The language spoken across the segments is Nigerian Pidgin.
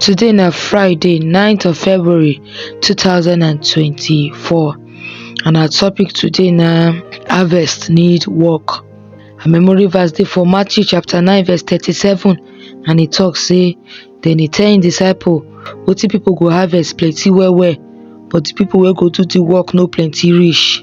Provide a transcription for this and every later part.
Today na Friday 9th of February 2024 and our topic today na harvest need work. Our memory verse dey for Matthew chapter 9 verse 37 and e talk say dem dey tell im disciple wetin people go harvest plenty well well but the people wey go do the work no plenty reach.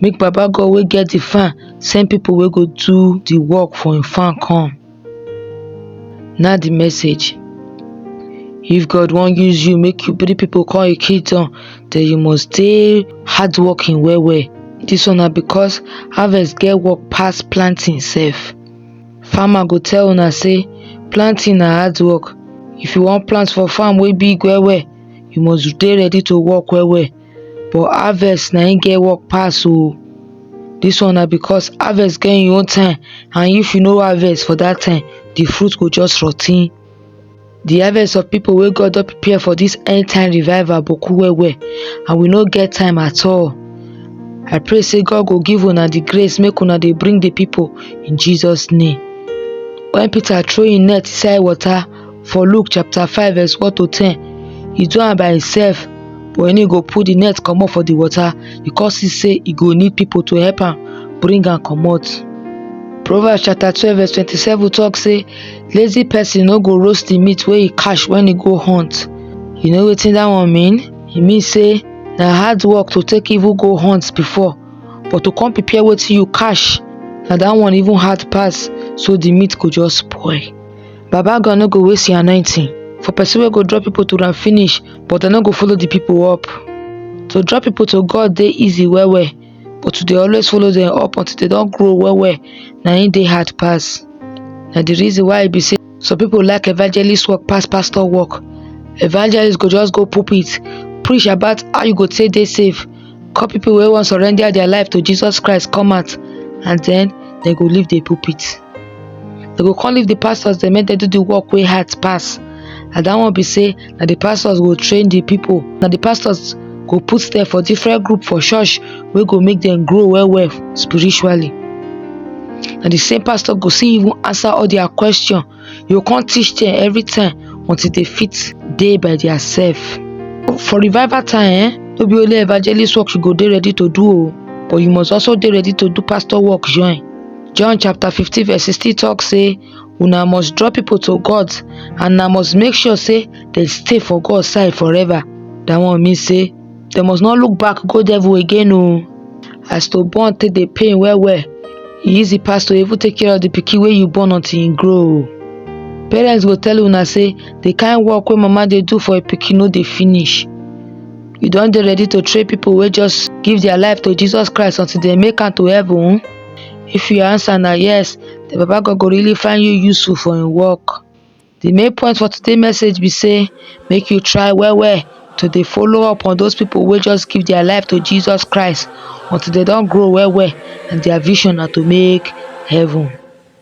make baba god wey get the farm send people wey go do the work for him farm come na the message if god wan use you make you bring people come him kingdom then you must stay hard working well well this one na because harvest get work pass planting sef farmer go tell una say planting na hard work if you wan plant for farm wey big well well you must dey ready to work well well but harvest na im get work pass oh this one na because harvest get him own time and if you no harvest for that time the fruit go just rot ten the harvest of people wey God don prepare for this end time revival boku well well and we no get time at all I pray say God go give una the grace make una dey bring the people in Jesus name when Peter throw him net inside water for Luke chapter 5 verse 1 to 10, he do am by himself but when he go put the net comot for the water because he say he go need people to help am bring am comot. Proverbs chapter 12 verse 27 talk say lazy person no go roast the meat wey he catch when he go hunt. You know wetin that one mean? E mean say na hard work to take even go hunt before but to come prepare wetin you catch na that one even hard pass so the meat go just spoil. Baba God no go waste him anointing for person wey go draw people to am finish but dem no go follow the people up. To draw people to God dey easy well well but to dey always follow them up until they don grow well well na im dey hard pass. Na the reason why e be say some people like evangelist work pass pastor work. Evangelist go just go pulpit preach about how you go take dey safe call people wey wan surrender their life to Jesus Christ come out and then dem go leave the pulpit. dem go come leave the pastors dem make dem do the work wey hard pass and that one be say na the pastors go train the people na the pastors go put them for different group for church wey go make them grow well well spiritually na the same pastor go still even answer all their question he go come teach them every time until they fit dey by their self for revival time eh no be only evangelist work you go dey ready to do o but you must also dey ready to do pastor work join John chapter 15 verse 16 talk say una must draw people to God and una must make sure say they stay for God side forever. That one mean say they must not look back go devil again o. Oh. As to born take the pain well well, e easy pass to even take care of the pikin wey you born until e grow. Oh. Parents go tell una say the kind work wey mama dey do for a pikin no dey finish. You don dey ready to train people wey just give their life to Jesus Christ until they make am to heaven? If your answer na yes, the Baba God go really find you useful for him work. The main point for today's message be say make you try well well to dey follow up on those people wey just give their life to Jesus Christ until they don grow well well and their vision na to make heaven.